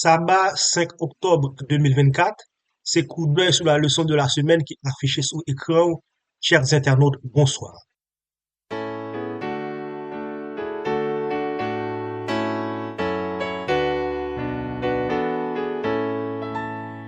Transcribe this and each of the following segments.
Saba 5 oktòb 2024, se koudèy sou la leson de la semèn ki afiche sou ekran ou, chers internautes, bonsoir.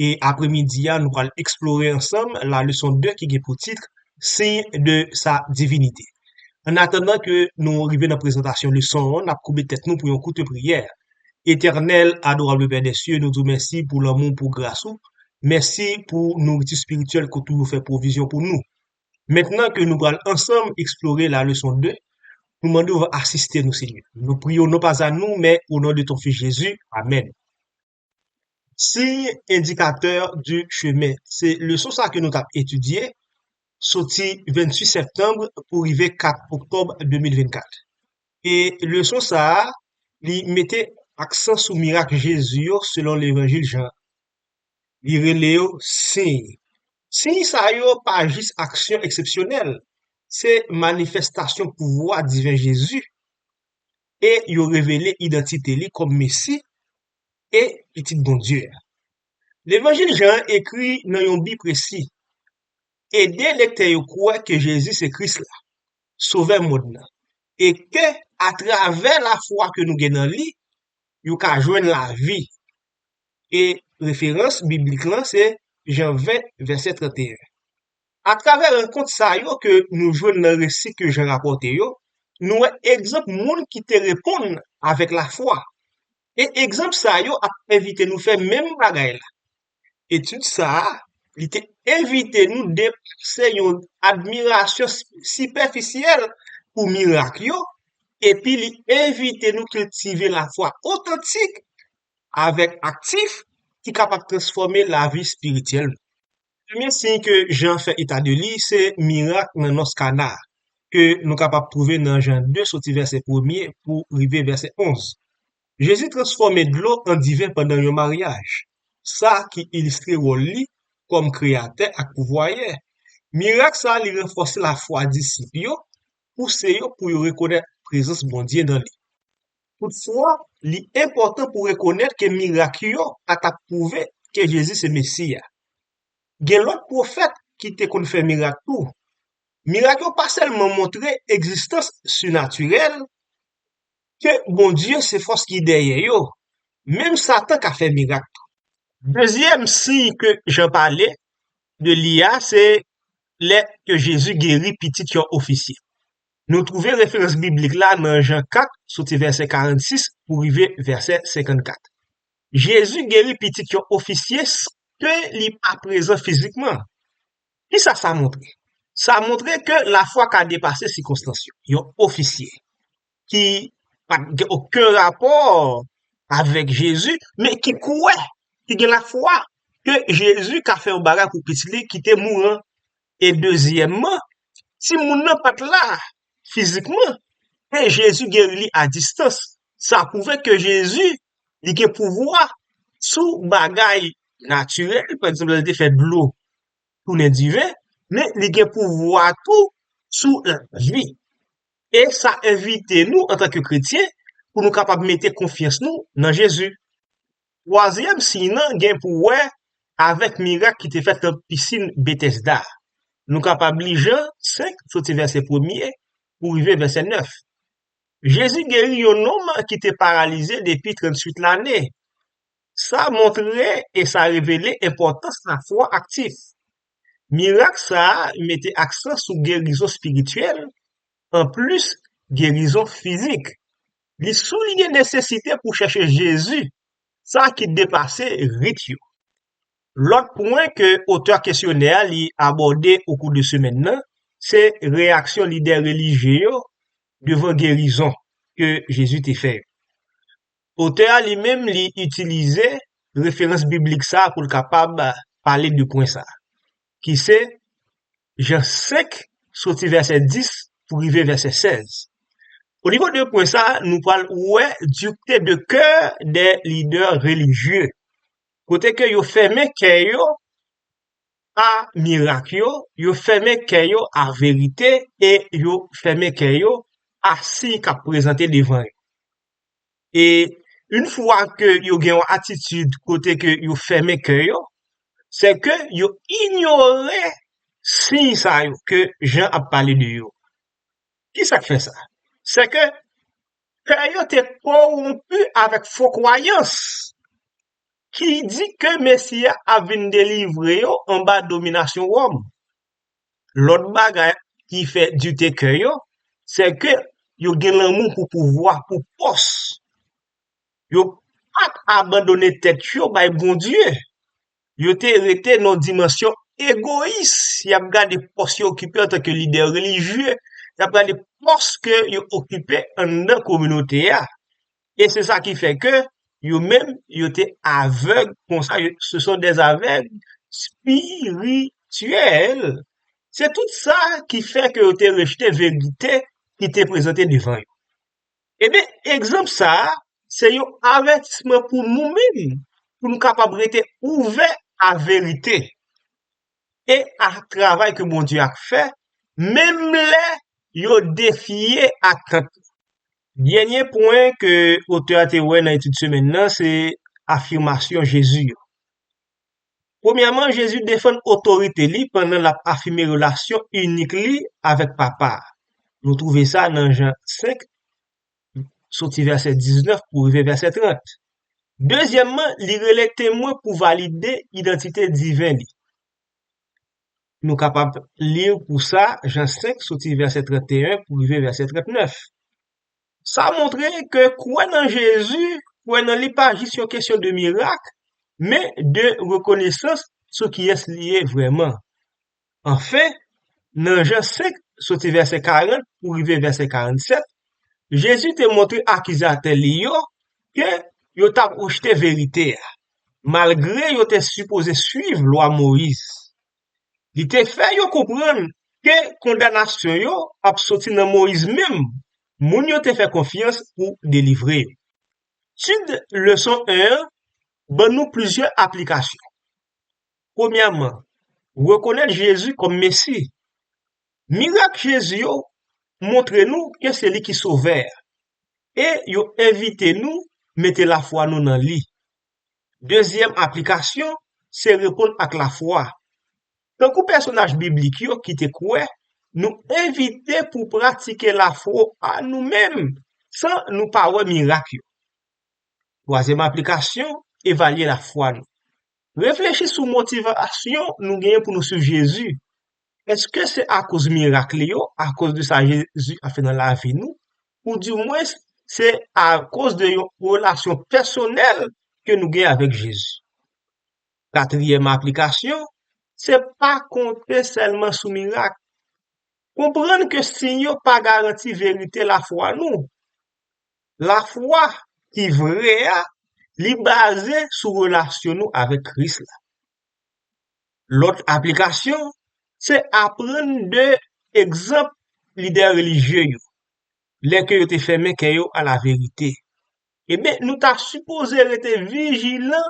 E apre midi a nou pral eksplore ansanm la leson 2 ki gen pou tit Signe de sa divinite. An atandan ke nou rive nan prezantasyon leson an, nap koube tèt nou pou yon koute priyè. Etènèl, adorable Père des cieux, nou di w mèsi pou lanmou w, pou gras ou. Mèsi pou nouriti spirityèl ke w toujou fè pwovizyon pou nou. Mentnan ke nou pral ansanm eksplore la leson 2, nou mande w asiste nou Senyè. Nou priye w non pas a nou, men o non de ton Fis Jezi. Amen. Signe indicateur du chemin se leson sa ke nou tap etidye soti 28 septanm pou rive 4 oktòb 2024 e leson sa li mete aksan sou mirak Jezi yo selon levanjil Jan li rele yo siy siy sa yo pa jis aksyon eksepsyonèl se manifestasyon pouvwa diven Jezi e yo revele idantite li kòm Mesi e Pitit Bondye a. Levanjil Jan an ekri nan yon bi presi, ede lektè yo kwè ke Jezi se Kris la, Sovè mond nan, e ke atravè lafwa ke nou gen nan li, yo ka jwenn lavi, e referans biblik lan se Jan 20, vèsè 31. Atravè rankont sa yo ke nou jwenn nan resi ke Jan rapòte yo, nou wè egzanp moun ki te reponn avèk lafwa. E egzanp sa yo ap envite nou fè menm bagay la. Etid sa a, li te envite nou depase yon admirasyon sipèfisyèl pou mirak yo, epi li envite nou kiltive lafwa otantik avèk aktif ki kapab transfòme lavi espirityèl nou. Premye siy ke Jan fè eta de li se mirak nan nòs Kana a, ke nou kapab twouve nan Jan 2 soti vèsè premye pou rive vèsè onz. Jezi transfòme dlo an diven pandan yon maryaj, sa ki ilistre wòl li kòm kreyatè ak pouvwayè. Mirak sa li ranfòse lafwa disip yo, pouse yo pou yo rekonèt prezans Bondye nan li. Toutfwa, li enpòtan pou rekonèt ke mirak yo pa t ap pwouve ke Jezi se Mesi a. Gen lòt pwofèt ki te konn fè mirak tou. Mirak yo pa sèlman montre egzistans sinatirèl, ke Bondye se fòs ki dèyè yo, menm Satan ka fè mirak tou. Dezyèm siy ke Jan pale de li a se lè ke Jezi geri pitit yon ofisye. Nou twouve referans biblik la nan Jan 4, soti vèsè 46 pou rive vèsè 54. Jezi geri pitit yon ofisye san ke li pa prezan fizikman. Kisa sa montre? Sa montre ke lafwa ka depase sikonstans yo. Yon ofisye ki pa t gen oken rapò avèk Jezi, men ki kwè, ki gen lafwa ke Jezi ka fè yon bagay pou pitit li ki te mouri an, E dezyèmman, timoun nan pa t la fizikman, men Jezi geri li a distans. Sa pwouve ke Jezi li gen pouvwa sou bagay natirèl, pa egzanp lè l te fè dlo tounen diven, men li gen pouvwa tou sou lavi. E sa envite nou antanke kretyen pou nou kapab mete konfyans nou nan Jezi. Twazyèm siy nan gen pou wè avèk mirak ki te fèt nan pisin Betesda a. Nou kapab li Jan senk, soti vèsè premye pou rive vèsè nèf. Jezi geri yon nonm ki te paralize depi trannsuit lane. Sa montre e sa revele enpòtans lafwa aktif. Mirak sa a mete aksan sou gerizon espirityèl Anplis gerizon fizik, li souliye nesesite pou chèche Jezi, sa ki depase rit yo. Lòt pwen ke otè kesyonè a li abòde okou de semèn nan, se reyaksyon lidè relijye yo devan gerizon ke Jezi te fè yo. Otè a li menm li itilize referans biblik sa pou l kapab pale de pwen sa, ki se Jan 5, soti vèsè 10 pou rive vèsè 16. Onivo de pwen sa, nou pral wè dureté de coeur des leaders religieux, kote ke yo fèmen kè yo a mirak yo, yo fèmen kè yo a verite e yo fèmen kè yo a siy kap prezante devan yo. e yn fwa ke yo gen yon atitid kote ke yo fèmen kè yo se ke yo inyore siy sa yo ke Jan ap pale de yo kisak fè sa se ke kè yo te kowonpi avèk fo kwayans ki di ke mesi a ap vin delivre yo anba dominasyon wòm Lòt bagay ki fè dute kè yo, sè ke yo gen lanmou pou pouvwa, pou pòs. Yo pa t abandone tèt yo bay Bondye. Yo te rete nan yon dimansyon egoyis. Y ap gade pòs yo okipe antanke lidè relijye. Y ap gade pòs ke yo okipe anndan kominote a. e se sa ki fè ke yo menm yo te avèg konsa, se son dè avèg spirityèl, se tout sa ki fè ke yo te rejte verite ki te prezante devan yo. E ben, egzanp sa, se yon avètisman pou nou menm, pou nou kapab rete ouvè a verite, e a travay ke Bondye ap fè, menm lè yo defye atant li. Dènye pwen ke otè a te wè nan etid semèn nan se afimasyon Jezi yo. Premyèman, Jezi defann otorite li pandan l ap afime relasyon inik li avèk Papa a. Nou twouve sa nan Jan 5, soti vèsè 19 pou rive vèsè 30. Dezyèmman, li rele temwen pou valide idantite diven li. Nou kapab li l pou sa Jan 5 soti vèsè 31 pou rive vèsè 39. Sa montre ke kwè nan Jezi, kwè nan li pa jis yon kesyon de mirak, men de rekonesans sou kiyès li ye vrèman. Anfen, nan Jan 5, soti vèsè 40 pou rive vèsè 47, Jezi te montre akizatè li yo ke yo t ap rejte verite a. malgre yo te sipoze swiv lwa Moyiz. Li te fè yo konprann ke kondanasyon yo ap soti nan Moyiz menm, moun yo te fè konfyans pou delivre yo. Tud leson 1 an ban nou plizyè aplikasyon. Premyèman, rekonèt Jezi kòm Mesi. Mirak Jezi yo montre nou ke se li ki Sovè a. e yo envite nou mete lafwa nou nan li. Dezyèm aplikasyon se reponn ak lafwa. Tankou pèsonaj biblik yo ki te kwè, nou envite pou pratike lafwa a nou menm san nou pa wè mirak yo. Twazyèm aplikasyon, evalye lafwa nou. Reflechi sou motivasyon nou genyen pou nou suiv Jezi. Eske se akoz mirak li yo, akoz de sa Jezi ap fè nan lavi nou, ou di mwens se akoz de yon relasyon pèsonèl ke nou gen avèk Jezi? Katriyèm aplikasyon, se pa konte sèlman sou mirak. Konprann ke siy yo pa garanti verite lafwa nou. Lafwa ki vre a, li baze sou relasyon nou avèk Kris la. Lòt aplikasyon, se aprann de egzanp lidè relijye yo, lè ke yo te fèmen kè yo a laverite. Eben, nou ta sipoze rete vijilan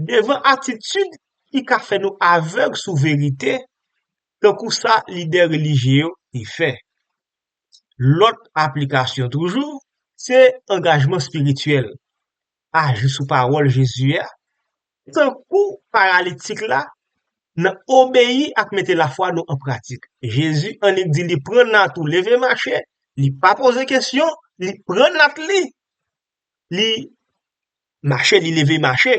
devan atitid ki ka fè nou avèg sou verite, tankou sa lidè relijye yo te fè. Lòt aplikasyon toujou, se angajman espirityèl. Aji sou pawòl Jezi a, Se tankou paralitik la, nan obeyi ak mete lafwa nou an pratik. Jezi annik di li pran nat ou leve mache, li pa poze kesyon, li pran nat li, li mache, li leve mache.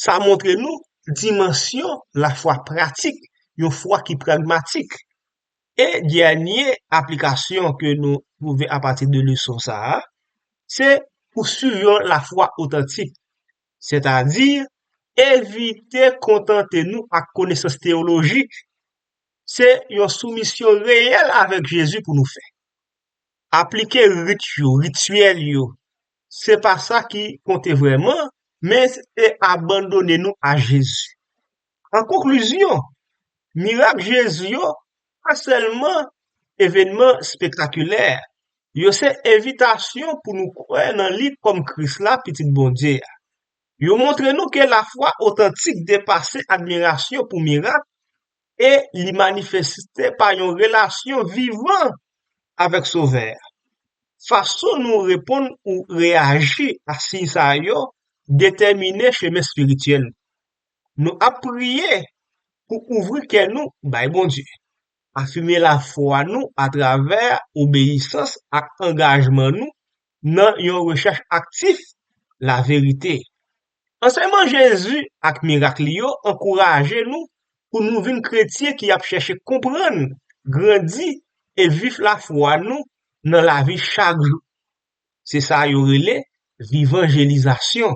Sa montre nou dimansyon lafwa pratik, yon fwa ki pragmatik. E dènye aplikasyon ke nou twouve apati de leson sa a, se pou swiv yon lafwa otantik. sètadi evite kontante nou ak konesans teyolojik, se yon soumisyon reyèl avèk Jezi pou nou fè. Aplike rit yo, rityèl yo, se pa sa ki konte vrèman, men se abandone nou a Jezi. An konklizyon, mirak Jezi yo pa sèlman evènman spektakilè, yo se envitasyon pou nou kwè nan li kòm Kris la, Pitit Bondye a. Yo montre nou ke lafwa otantik depase admirasyon pou mirak e li manifeste pa yon relasyon vivan avèk Sovè a. Fason nou reponn ou reyaji a siy sa yo detèmine chemen espirityèl nou. Nou ap priye pou ouvri kè nou bay Bondye. Afime lafwa nou atravè obeyisans ak angajman nou nan yon rechèch aktif laverite. Ansèyman Jezi ak mirak li yo ankouraje nou pou nou vin kretyen ki ap chèche konprann, grandi e viv lafwa nou nan lavi chak jou. Se sa yo rele vivanjelizasyon.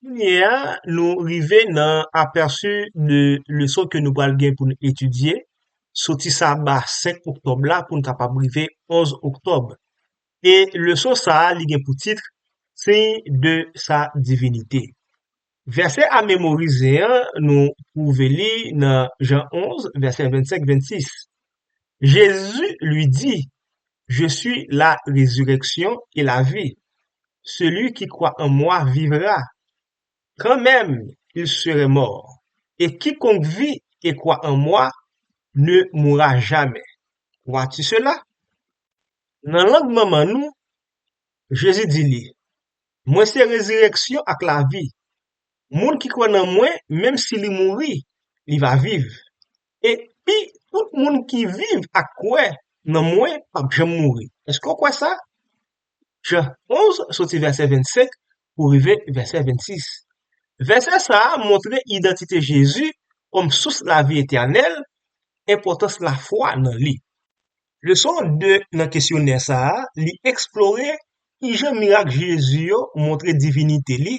Kounye a nou rive nan aperçu de leson ke nou pral gen pou nou etidye soti saba 5 oktòb la pou nou kapab rive 11 oktòb e leson sa li gen pou tit signe de sa divinite vèsè a memorize an nou twouve li nan Jan 11 vèsè 25, 26 Jésus lui dit, Je suis la résurrection et la vie, celui qui croit en moi vivra, quand même il serait mort, et quiconque vit et croit en moi ne mourra jamais. Vois-tu cela? Nan lang manman nou, Jésus di li, Mwen se rezireksyon ak lavi, moun ki kwè nan mwen menm si li mouri, li va viv. E pi tout moun ki viv ak kwè nan mwen pap janm mouri. Èske w kwè sa? Jan 11, soti vèsè 25 pou rive vèsè 26. Vèsè sa a montre idantite Jezi kòm sous lavi etènèl, enpòtans lafwa nan li. Leson 2 nan kesyonè sa a, li eksplore ki jan mirak Jezi yo montre divinite li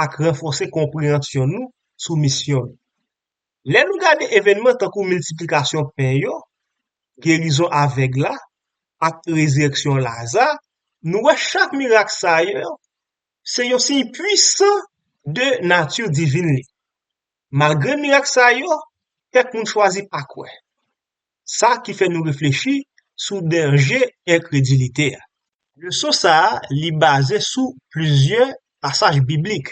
ak ranfòse konpreyansyon nou sou misyon l. Lè nou gade evènman tankou miltiplikasyon pen yo, gerizon avèg la, ak rezirèksyon Laza, nou wè chak mirak sa yo se yon siy puisan de nati divin li. Malgre mirak sa yo, kèk moun chwazi pa kwè, sa ki fè nou reflechi sou danje enkredilite a. Leson sa a li baze sou plizyè pasaj biblik,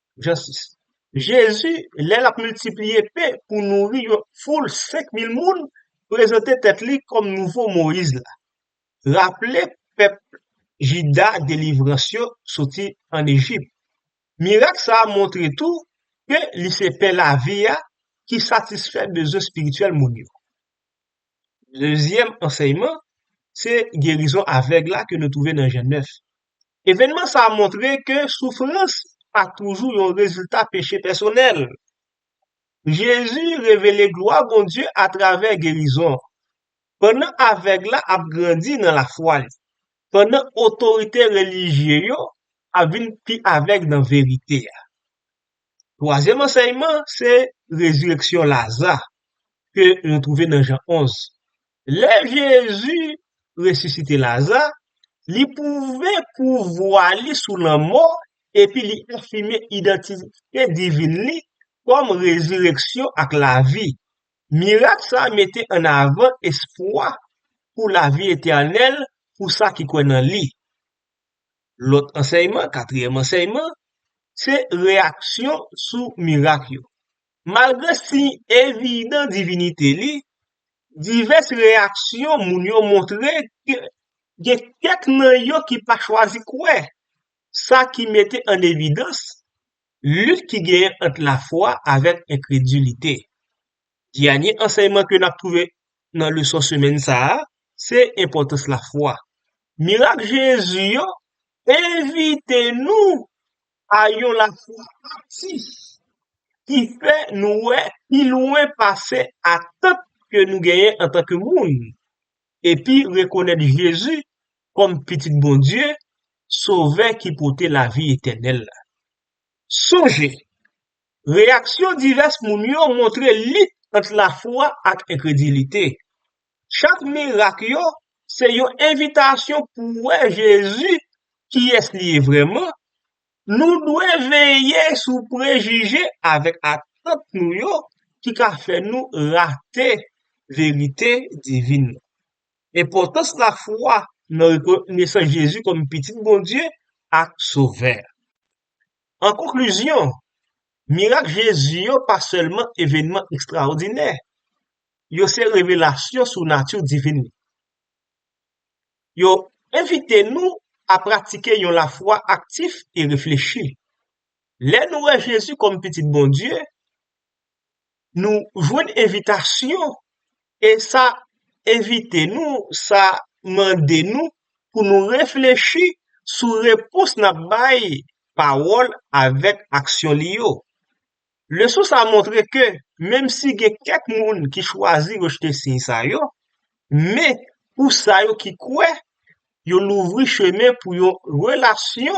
Jan 6. Jezi, lè l ap miltipliye pen pou nouri yon foul senk mil moun, prezante tèt li kòm nouvo Moyiz la. Raple pèp Jida delivrans yo soti ann Ejip. Mirak sa a montre tou ke li se pen lavi a ki satisfè bezwen espirityèl moun yo. Dezyèm ansèyman se gerizon avèg la ke nou twouve nan Jan 9. Evènman sa a montre ke soufrans pa toujou yon rezilta peche pèsonèl. Jezi revele glwa Bondye atravè gerizon, pandan avèg la ap grandi nan lafwa li, pandan otorite relijye yo ap vin pi avèg nan verite a. Twazyèm ansèyman se rezireksyon Laza ke nou twouve nan Jan 11. Lè Jezi resisite Laza, li pwouve pouvwa li sou lanmò epi li afime idantite divin li kòm rezireksyon ak lavi. Mirak sa a mete an avan espwa pou lavi etènèl pou sa ki kwè nan li. Lòt ansèyman, katriyèm ansèyman, se reyaksyon sou mirak yo. Malgre siy evidan divinite li, divès reyaksyon moun yo montre ke gen kèk nan yo ki pa chwazi kwè, sa ki mete an evidans lit ki genyen ant lafwa avèk enkredilite. Dènye ansèyman ke n ap twouve nan leson semèn sa a, se enpòtans lafwa. Mirak Jezi yo envite nou a yon lafwa aktif ki fè nou wè pi lwen pase atant ke nou genyen antanke moun, epi rekonèt Jezi kòm Pitit Bondye, Sovè ki pote lavi etènèl la. Sonje, Reyaksyon divès moun yo montre lit ant lafwa ak enkredilite. Chak mirak yo se yon envitasyon pou wè Jezi kiyès li ye vrèman, nou dwe veye sou prejije avèk atant nou yo ki ka fè nou rate verite divin nan. Enpòtans lafwa nan rekonesans Jezi kòm Pitit Bondye ak Sovè a. An konklizyon, mirak Jezi yo pa sèlman evènman ekstraòdinè, yo se revelasyon sou nati divin li. Yo envite nou a pratike yon lafwa aktif e reflechi. Lè nou wè Jezi kòm Pitit Bondye, Nou jwenn envitasyon e sa envite nou, sa mande nou pou nou reflechi sou repons n ap bay pawòl avèk aksyon li yo. Leson sa a montre ke menmsi gen kèk moun ki chwazi rejte siy sa yo, men, pou sa yo ki kwè, yo louvri chemen pou yon relasyon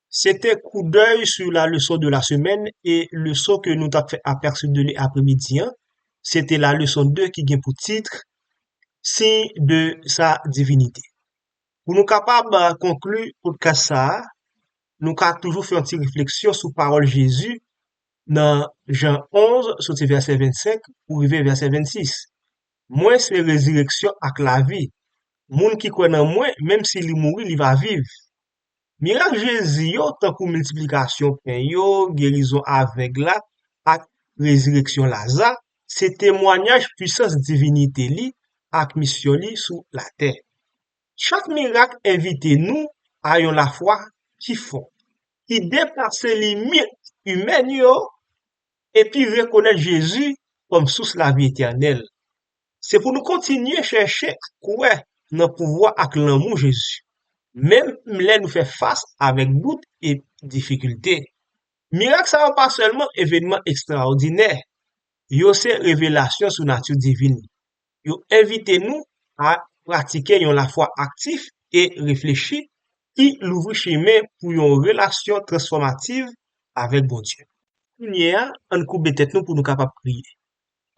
Se te koudèy sou la leson de la semèn e leson ke nou tap fè aperçu de li apre midi an, se te la leson 2 ki gen pou titr Signe de sa divinite. Pou nou kapab konklu podcast sa a, nou ka toujou fè yon ti refleksyon sou pawòl Jezi nan Jan 11 soti vèsè 25 pou rive vèsè 26, Mwen se rezireksyon ak lavi, moun ki kwè nan mwen menm si li mouri li va viv. Mirak Jezi yo, tankou miltiplikasyon pen yo, gerizon avèg la, ak rezireksyon Laza, se temwanyaj pisans divinite li ak misyon li sou latè. Chak mirak envite nou a yon lafwa ki fò, ki depase limit imèn yo epi rekonèt Jezi kòm sous lavi etènèl. Se pou nou kontinye chèche kwè nan pouvwa ak lanmou Jezi, menm lè nou fè fas avèk dout e difikilte. Mirak sa yo pa sèlman evènman ekstraòdinè, yo se revelasyon sou nati divin li. Yo envite nou a pratike yon lafwa aktif e reflechi ki louvri chemen pou yon relasyon transfòmativ avèk Bondye. Kounye a, ann koube tèt nou pou nou kapab priye.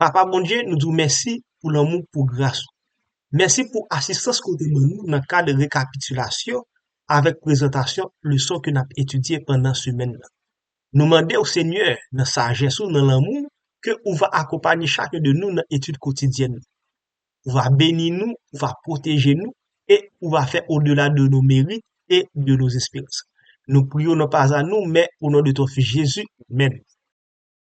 Papa Bondye nou di w mèsi pou lanmou pou gras ou. Mèsi pou asistans ke w te ban nou nan kad rekapitilasyon avèk prezantasyon leson ke nap etidye pandan semèn nan. Nou mande w Senyè nan sajès ou nan lanmou w ke ou va akonpanye chakun de nou nan etid kotidyèn nou. Ou va beni nou, ou va pwoteje nou e ou va fè odela de nos merites et de nos esperances. Nou priye w nan paza nou men o non de ton fis Jezi, menn.